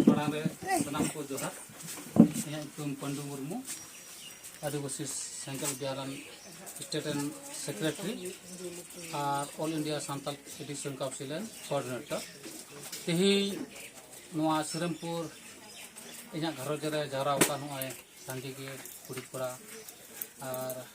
ᱢᱟᱲᱟᱝ ᱨᱮ ᱥᱟᱱᱟᱢ ᱠᱚ ᱡᱚᱦᱟᱨ ᱤᱧᱟᱹᱜ ᱧᱩᱛᱩᱢ ᱯᱟᱱᱰᱩ ᱢᱩᱨᱢᱩ ᱟᱹᱫᱤᱵᱟᱹᱥᱤ ᱥᱮᱱᱴᱨᱟᱞ ᱵᱤᱦᱟᱨᱟᱱ ᱥᱴᱮᱴ ᱨᱮᱱ ᱥᱮᱠᱨᱮᱴᱟᱨᱤ ᱟᱨ all India Santal education council ᱨᱮᱱ ᱠᱳᱚᱨᱰᱤᱱᱮᱴᱚᱨ ᱛᱮᱦᱮᱧ ᱱᱚᱣᱟ ᱥᱤᱨᱟᱢᱯᱩᱨ ᱤᱧᱟᱹᱜ ᱜᱷᱟᱨᱚᱸᱡᱽ ᱨᱮ ᱡᱟᱣᱨᱟ ᱟᱠᱟᱱ ᱱᱚᱜᱼᱚᱭ ᱥᱟᱸᱜᱮ ᱜᱮ ᱠᱩᱲᱤ ᱠᱚᱲᱟ ᱟᱨ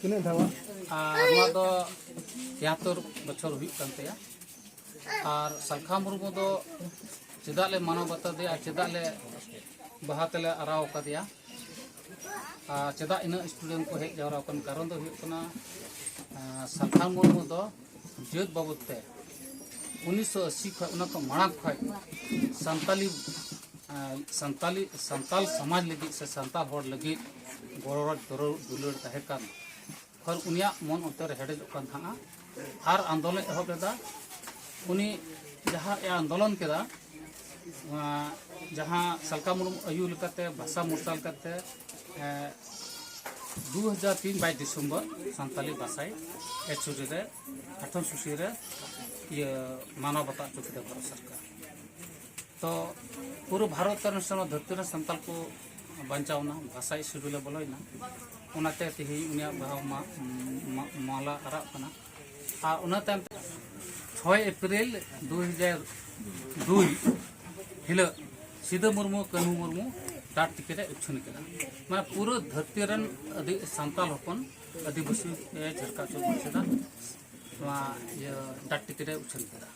ᱛᱤᱱᱟᱹᱜ ᱫᱷᱟᱣᱟ ᱟᱨ ᱱᱚᱣᱟ ᱫᱚ ᱛᱮᱦᱟᱛᱚᱨ ᱵᱚᱪᱷᱚᱨ ᱦᱩᱭᱩᱜ ᱠᱟᱱ ᱛᱟᱭᱟ ᱟᱨ ᱥᱟᱞᱠᱷᱟ ᱢᱩᱨᱢᱩ ᱫᱚ ᱪᱮᱫᱟᱜ ᱞᱮ ᱢᱟᱱᱟᱣ ᱵᱟᱛᱟᱣ ᱫᱮᱭᱟ ᱟᱨ ᱪᱮᱫᱟᱜ ᱞᱮ ᱵᱟᱦᱟ ᱛᱮᱞᱮ ᱟᱨᱟᱣ ᱟᱠᱟᱫᱮᱭᱟ ᱟᱨ ᱪᱮᱫᱟᱜ ᱤᱱᱟᱹᱜ ᱥᱴᱩᱰᱮᱱᱴ ᱠᱚ ᱦᱮᱡ ᱡᱟᱣᱨᱟ ᱟᱠᱟᱱ ᱠᱟᱨᱚᱱ ᱫᱚ ᱦᱩᱭᱩᱜ ᱠᱟᱱᱟ ᱥᱟᱞᱠᱷᱟ ᱢᱩᱨᱢᱩ ᱫᱚ ᱡᱟᱹᱛ ᱵᱟᱵᱚᱫ ᱛᱮ ᱩᱱᱤᱥᱥᱚ ᱟᱥᱤ ᱠᱷᱚᱱ ᱚᱱᱟ ᱠᱚ ᱢᱟᱲᱟᱝ ᱠᱷᱚᱱ ᱥᱟᱱᱛᱟᱞᱤ ᱥᱟᱱᱛᱟᱞᱤ ᱥᱟᱱᱛᱟᱞ ᱥᱚᱢᱟᱡᱽ ᱞᱟᱹᱜᱤᱫ ᱥᱮ ᱥᱟᱱᱛᱟᱞ ᱦᱚᱲ ᱞᱟᱹᱜᱤᱫ ᱜᱚᱨᱚᱡᱽ ᱫᱚᱨᱚ ᱫᱩᱞᱟᱹᱲ ᱛᱟᱦᱮᱸ ᱠᱟᱱ ᱠᱷᱚᱱ ᱩᱱᱤᱭᱟᱜ ᱢᱚᱱ ᱚᱱᱛᱚᱨ ᱦᱮᱰᱮᱡᱚᱜ ᱠᱟᱱ ᱛᱟᱦᱮᱸᱜᱼᱟ ᱟᱨ ᱟᱱᱫᱳᱞᱚᱱ ᱮᱦᱚᱵ ᱞᱮᱫᱟ ᱩᱱᱤ ᱡᱟᱦᱟᱸ ᱮ ᱟᱱᱫᱳᱞᱚᱱ ᱠᱮᱫᱟ ᱡᱟᱦᱟᱸ ᱥᱟᱞᱠᱟ ᱢᱩᱨᱢᱩ ᱟᱭᱩ ᱞᱮᱠᱟᱛᱮ ᱵᱷᱟᱥᱟ ᱢᱚᱨᱥᱟᱞ ᱠᱟᱛᱮ ᱫᱩ ᱦᱟᱡᱟᱨ ᱛᱤᱱ ᱵᱟᱭᱤᱥ ᱰᱤᱥᱮᱢᱵᱚᱨ ᱥᱟᱱᱛᱟᱞᱤ ᱵᱷᱟᱥᱟᱭ ᱮᱪᱩᱨᱤ ᱨᱮ ᱟᱴᱷᱚᱱ ᱥᱩᱥᱤ ᱨᱮ ᱤᱭᱟᱹ ᱢᱟᱱᱟᱣ ᱵᱟᱛᱟᱣ ᱦᱚᱪᱚ ᱠᱮᱫᱟ ᱵᱷᱟᱨᱚᱛ ᱥᱚᱨᱠᱟᱨ ᱛᱚ ᱯᱩᱨᱟᱹ ᱵᱷᱟᱨᱚᱛ ᱨᱮᱱ ᱥᱟᱱᱟᱢ ᱫᱷᱟᱹᱨᱛᱤ ᱨᱮᱱ ᱥᱟᱱᱛᱟᱞ ᱠᱚ ᱵᱟᱧᱪᱟᱣᱱᱟ ᱵᱷᱟᱥᱟ ᱥᱤᱰᱩᱞᱮ ᱵᱚᱞᱚᱭᱮᱱᱟ ᱚᱱᱟᱛᱮ ᱛᱮᱦᱮᱧ ᱩᱱᱤᱭᱟᱜ ᱵᱟᱦᱟ ᱢᱟᱞᱟ ᱟᱨᱟᱜ ᱠᱟᱱᱟ ᱟᱨ ᱚᱱᱟ ᱛᱟᱭᱚᱢ ᱛᱮ ᱪᱷᱚᱭ ᱮᱯᱨᱤᱞ ᱫᱩ ᱦᱟᱡᱟᱨ ᱫᱩᱭ ᱦᱤᱞᱳᱜ ᱥᱤᱫᱟᱹ ᱢᱩᱨᱢᱩ ᱠᱟᱹᱱᱦᱩ ᱢᱩᱨᱢᱩ ᱰᱟᱴ ᱴᱤᱠᱤᱴ ᱮ ᱩᱪᱷᱟᱹᱱ ᱠᱮᱫᱟ ᱢᱟᱱᱮ ᱯᱩᱨᱟᱹ ᱫᱷᱟᱹᱨᱛᱤ ᱨᱮᱱ ᱟᱹᱫᱤ ᱥᱟᱱᱛᱟᱞ ᱦᱚᱯᱚᱱ ᱟᱹᱫᱤᱵᱟᱹᱥᱤ ᱡᱷᱟᱨᱠᱟ ᱪᱚᱞ ᱢᱩᱨᱥᱤᱫᱟ ᱱᱚᱣᱟ ᱤᱭᱟᱹ ᱰᱟᱴ ᱴᱤᱠᱤᱴ ᱮ ᱩᱪᱷᱟᱹᱱ ᱠᱮᱫᱟ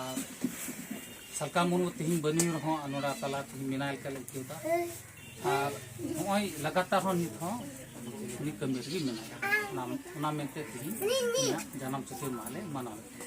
ᱟᱨ ᱥᱟᱞᱠᱟ ᱢᱩᱨᱢᱩ ᱛᱮᱦᱮᱧ ᱵᱟᱹᱱᱩᱭ ᱨᱮᱦᱚᱸ ᱱᱚᱰᱟ ᱛᱟᱞᱟ ᱛᱮᱦᱮᱧ ᱢᱮᱱᱟᱭ ᱞᱮᱠᱟ ᱞᱮ ᱟᱹᱭᱠᱟᱹᱣ ᱮᱫᱟ ᱟᱨ ᱱᱚᱜᱼᱚᱭ ᱞᱟᱜᱟᱛᱟᱨ ᱦᱚᱸ ᱱᱤᱛ ᱦᱚᱸ ᱩᱱᱤ ᱠᱟᱹᱢᱤ ᱨᱮᱜᱮ ᱢᱮᱱᱟᱭᱟ ᱚᱱᱟ ᱚᱱᱟ ᱢᱮᱱᱛᱮ ᱛᱮᱦᱮᱧ ᱩᱱᱤᱭᱟᱜ ᱡᱟᱱᱟᱢ ᱪᱷᱩᱴᱤ ᱢᱟᱦᱟ ᱞᱮ ᱢᱟᱱᱟᱣ ᱮᱫᱟ